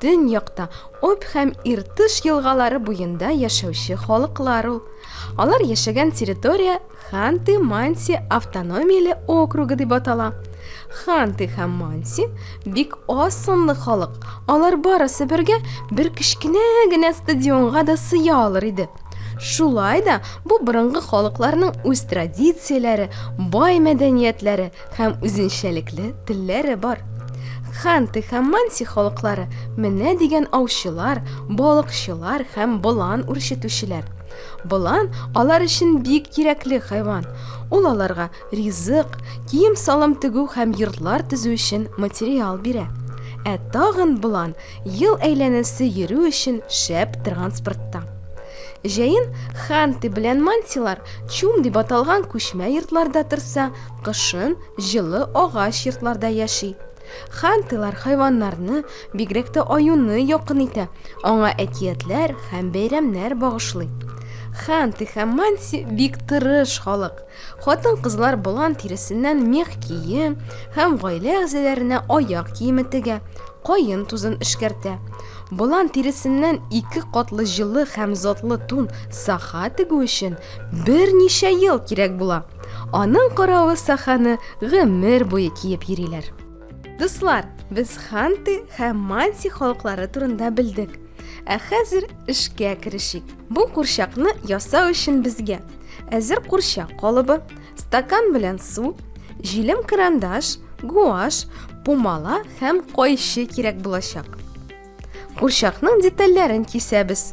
Төньякта Обь һәм Иртыш елгалары буенда яшәүче халыклар ул. Алар яшәгән территория Ханты-Манси автономияле округы дип атала. Ханты һәм Манси бик аз санлы халык. Алар барысы бергә бер кечкенә генә стадионга да сыя алыр иде. Шулай да бу борынгы халыкларның үз традицияләре, бай мәдәниятләре, һәм үзенчәлекле телләре бар. Ханты һәм Манси халыклары менә дигән аучылар, балыкчылар һәм болан үрчетүчеләр. Болан алар өчен бик кирәкле хайван. Ул аларга ризык, кием-салым тегү һәм йортлар төзү өчен материал бирә. Ә тагын болан ел әйләнәсе йөрү өчен шәп транспортта. Җәен Ханты белән Мансилар Чум дип аталган күчмә йортларда торса, Кышын җылы агач йортларда яши. Хантылар хайваннарны, бигрәк тә аюны якын итә, аңа әкиятләр һәм бәйрәмнәр багышлый. Ханты һәм манси бик тырыш халык. Хатын-кызлар болан тиресеннән мех кием һәм гаилә әгъзаларына аяк киеме тегә, каен тузын эшкәртә. Болан тиресеннән ике катлы җылы һәм затлы тун саха тегү өчен берничә ел кирәк була. Аның каравы саханы гомер буе киеп йөриләр. Дуслар, без Ханты һәм Манси халыклары турында белдек. Ә хәзер эшкә керешик. Бу курчакны ясау өчен безгә әзер курчак калыбы, стакан белән су, җилем карандаш, гуаш, пумала һәм кайчы кирәк булачак. Курчакның детальләрен кисәбез.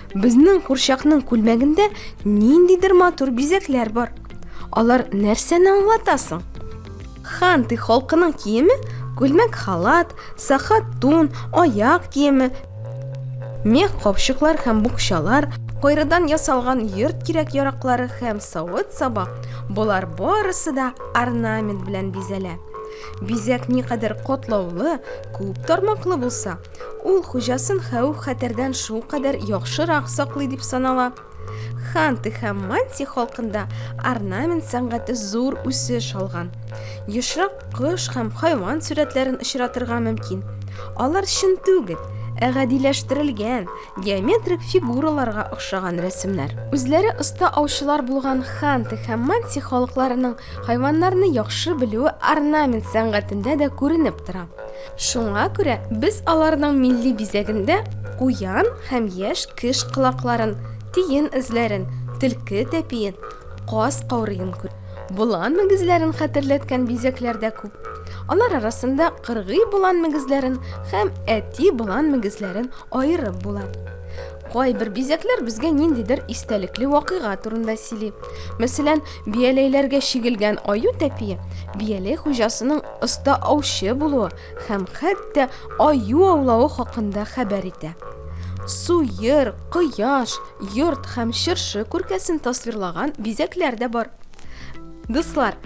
Безнең курчакның күлмәгендә ниндидер матур бизәкләр бар. Алар нәрсәне аңлата соң? Ханты халкының киеме күлмәк халат, сахат тун, аяк киеме, мех капчыклар һәм букчалар, кайрыдан ясалган йорт кирәк-яраклары һәм савыт-саба, болар барысы да орнамент белән бизәлә. Бизәк никадәр катлаулы, күп тармаклы булса, Ул хуҗасын хәвеф-хәтәрдән шулкадәр яхшырак саклый дип санала. Ханты һәм Манси халкында орнамент сәнгате зур үсеш алган. Ешрак кош һәм хайван сурәтләрен очратырга мөмкин. Алар чын түгел, ә гадиләштерелгән, геометрик фигураларга охшаган рәсемнәр. Үзләре оста аучылар булган ханты һәм манси халыкларының хайваннарны яхшы белүе орнамент сәнгатендә дә күренеп тора. Шуңа күрә без аларның милли бизәгендә куян һәм яшь кеш колакларын, тиен эзләрен, төлке тәпиен, каз каурыен күрәбез. Болан мөгезләрен хәтерләткән бизәкләр дә күп. Алар арасында кыргый болан мөгезләрен һәм әти болан мөгезләрен аерып була. Кайбер бизәкләр безгә ниндидер истәлекле вакыйга турында сөйли. Мәсәлән, бияләйләргә чигелгән аю тәпие бияләй хуҗасының оста аучы булуы һәм хәтта аю аулавы хакында хәбәр итә. Суер, кояш, йорт һәм чыршы күркәсен тасвирлаган бизәкләр дә бар. Дуслар,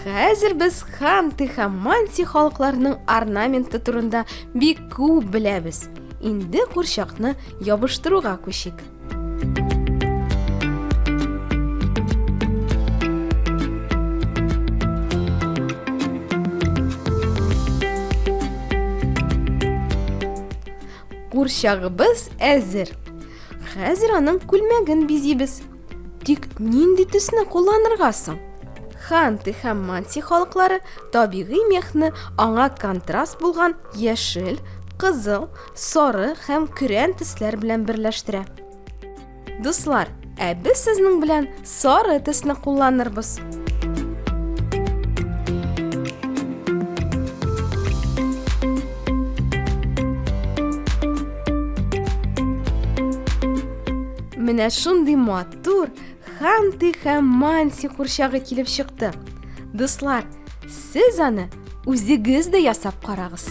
хәзер без ханты һәм манси халыкларының орнаменты турында бик күп беләбез. Инде курчакны ябыштыруга күчик. Курчагыбыз әзер. Хәзер аның күлмәген бизибез. Тик нинди төсне кулланырга соң? Ханты һәм манси халыклары табигый мехны аңа контраст булган яшел, кызыл, сары һәм көрән төсләр белән берләштерә. Дуслар, ә без сезнең белән сары төсне кулланырбыз. Менә шундый матур Ханти һәм Манси курчагы килеп чыкты. Дуслар, Сез аны үзегез дә ясап карагыз.